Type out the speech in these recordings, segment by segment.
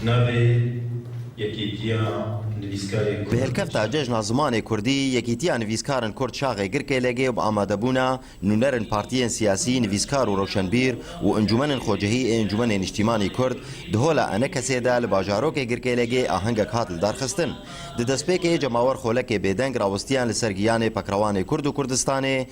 Navê Yekîtiya Nivîskarên Kurd Bi hilkefta Cejna Zimanê Kurdî, Yekîtiya Nivîskarin Kurd Şaxê Girkêlege bi amadebûna nûnerên partiyên siyasî, nivîskar û rewşenbîr û encûmenên xwecihî ê Encûmenê Niştîmanî Kurd di Hola Enekesê de li bajarokê Girkêlegê ahengek hat lidarxistin. Di destpêkê cemawer xolekê bêdeng rawistiyan li ser giyanê pekrewanê Kurd û Kurdistanê,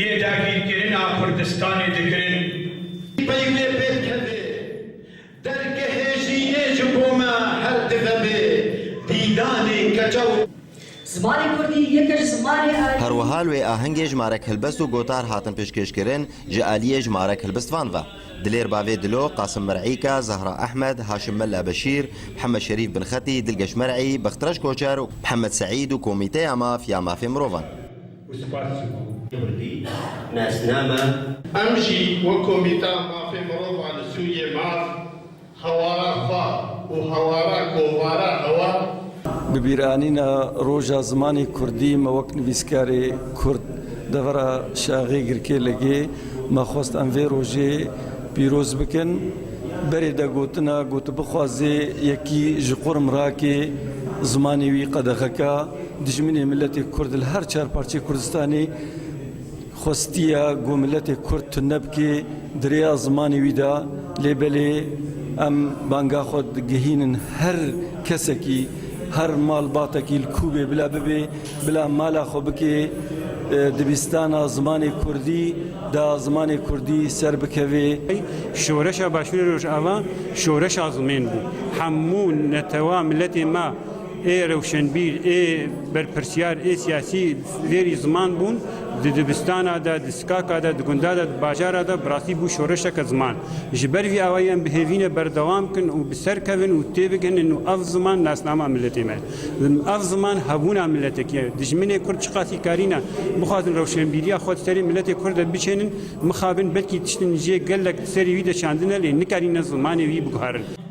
Yê dagîrkirina Kurdistanê dikirin. Peynê pê dikeve. Dergehê jînê ji bo me her dive bê dîdanê keça û. Zimanê Kurdî yeke ji zimanê erê. Her wiha li wê ahengê ji marek hilbest û gotar hatin pêşkêşkirin ji aliyê ji marek hilbistvan ve. Dilêr Bavê Dilo, Qasim Mir'îka, Zehra Ehmed, Haşim Mella Beşîr, Mihemed Şerîf Binxetî, Dilgeş Mer'î, Bextreş Koçer û Mihemed Se'îd û komîteya maf ya mafê mirovan. û spas ji bo. Kurdî nasname. Em jî wek Komîteya Mafê Mirovan li Sûriyê maf, hewara xwe û hewara kovara hewa, Bibîranîna roja zimanê kurdî me wek nivîskarê kurd devera şaxê girkê ligê me xwest em vê rojê pîroz bikin. Berê de gotina ku tu bixwazê yekî ji qurm rakê zimanê wî qedexeka. Dijminê miletê Kurd li her çar parçeyê Kurdistanê xwestiye ku miletê Kurd tune bike di rêya zimanê wî de lê belê em banga xwe digihînin her kesekî, her malbatekî li ku bê bila bibe bila mala xwe bike dibistana zimanê Kurdî de zimanê Kurdî ser bikeve. Şoreşa Başûrê Rojava şoreşa zimên bû. Hemû netewa miletên me Ê rewşenbîr, ê berpirsiyar, ê siyasî fêrî ziman bûn. Di dibistana de, di sikaka de, di gunda de, di bajara de bi rastî bû şoreşeke ziman. Ji ber vî awayî em bihêvîne berdewam bikin û bi ser kevin û têbigihinin û ev ziman nasnama miletê me ye. Ev ziman hebûna miletekî ye. Dijminê kurd çiqasî karîne bixwazin rewşenbîriya xwe di serê miletê kurd de biçênin, mixabin belkî tiştên jê gelek di serê wî de çandine lê nikarîne zimanê wî biguherin.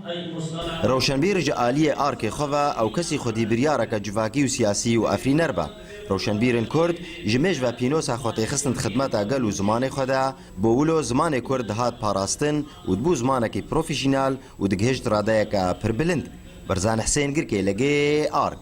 Rewşenbîr ji aliyê arkê xwe ve ew kesî xwedî biryareke civakî û siyasî û efrîner be. Rewşenbîrên Kurd ji mêj ve pînosa xwetêxistin di xidmeta gel û zimanê xwe de, bo wilo zimanê Kurd dihat parastin û dibû zimanekî profîşînal û digihişt radeyeke pir bilind. Berzan Hisên Girkê li gê ark.